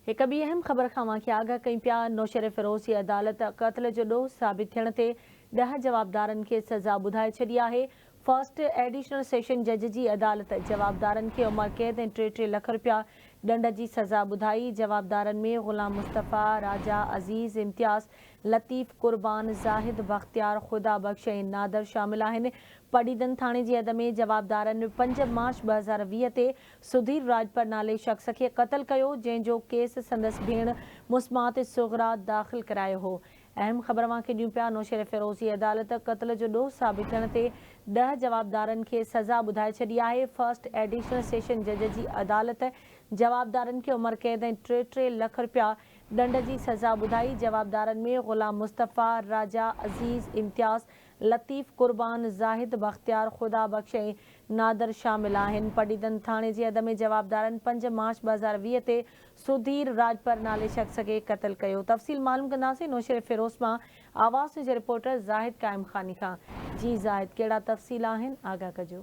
هڪ ٻي اهم خبر کان اوهان کي آگاهه ڪيون پيا، نوشهريفيروز جي عدالت قتل جو ڏوھ ثابت ٿيڻ تي ڏهه جوابدارن کي سزا ٻڌائي ڇڏي آهي، فرسٽ ايڊيشنل سيشن جج جي عدالت جوابدارن کي عمر قيد ۽ ٽي ٽي لک رپيا ڏنڊ جي سزا ٻڌائي، جوابدارن ۾ غلام مصطفيٰ، راجا، عزيز، امتياز، لطيف، قربان، زاهد، بختيار، خدا بخش ۽ نادر شامل آهن، پڊعيدن ٿاڻي جي حد ۾ جوابدارن پنج مارچ ٻه هزار ويهه تي سڌير راڄپر نالي شخص کي قتل ڪيو جنهن جو ڪيس سندس ڀيڻ مسمات صغريٰ داخل ڪرايو هو اهم خبر اوهان کي ڏيون پيا نوشهريفيروزي عدالت قتل جو ڏوهه ثابت ٿيڻ تي ڏهه جوابدارن کي سزا ٻڌائي ڇڏي آهي فرسٽ ايڊيشنل سيشن جج جي عدالت جوابدارن کي عمر قيد ۽ ٽي ٽي لک رپيا ڏنڊ جي سزا ٻڌائي جوابدارن ۾ غلام مصطفيٰ راجا عزيز امتياز لطيف قربان، زاهد بختيار، خدا بخش ۽ نادر شامل آهن. پڊعيدن ٿاڻي جي حد ۾ جوابدارن پنج مارچ ٻه هزار ويهه تي سڌير راڄپر نالي شخص کي قتل ڪيو. تفصيل معلوم ڪنداسين نوشهريفيروز مان آواز نيوز جي رپورٽر زاهد قائم خاني کان. جي زاهد ڪهڙا تفصيل آهن آگاهه ڪجو.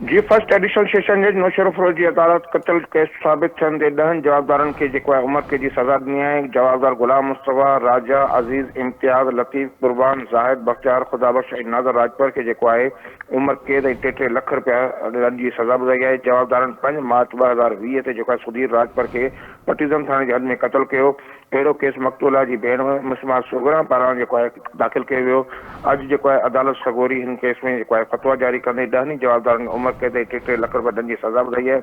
جي فرسٽ ايڊيشنل سيشن جج نوشيروفروز جي عدالت قتل ڪيس ثابت ٿيڻ تي ڏهن جوابدارن کي جيڪو آهي عمر قيد جي سزا ڏني آهي. جوابدار غلام مصطفيٰ، راجا، عزيز، امتياز، لطيف، قربان، زاهد، بختيار، خدا بخش ۽ ناظر راڄپر کي جيڪو آهي عمر قيد ۽ ٽي ٽي لک رپيا ڏنڊ جي سزا ٻڌائي آهي. جوابدارن پنج مارچ ٻه هزار ويهه تي جيڪو آهي سڌير راڄپر کي پٽيزم ٿاڻي جي حد ۾ قتل ڪيو. اهڙو ڪيس مقتولا جي ڀيڻ مسمه الصغريٰ پاران جيڪو آهي داخل ڪيو ويو. اڄ جيڪو آهي عدالت سڳوري هن ڪيس ۾ جيڪو آهي فتويٰ جاري ڪندي ڏهن ئي جوابدارن کي عمر قيد ۽ ٽي ٽي لک رپيا ڏنڊ جي سزا ٻڌائي آهي.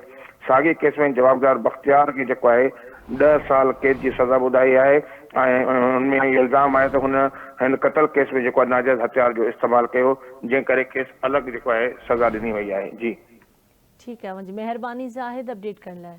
ساڳئي ڪيس ۾ جوابدار بختيار کي جيڪو آهي ڏهه سال قيد جي سزا ٻڌائي آهي ۽ هن ۾ اهو الزام آهي ته هن هن قتل ڪيس ۾ جيڪو آهي ناجائز هٿيار جو استعمال ڪيو جنهن ڪري کيس الڳ جيڪو آهي سزا ڏني وئي آهي. جي. ٺيڪ آهي وانجهي مهرباني زاهد اپڊيٽ ڪرڻ لاء.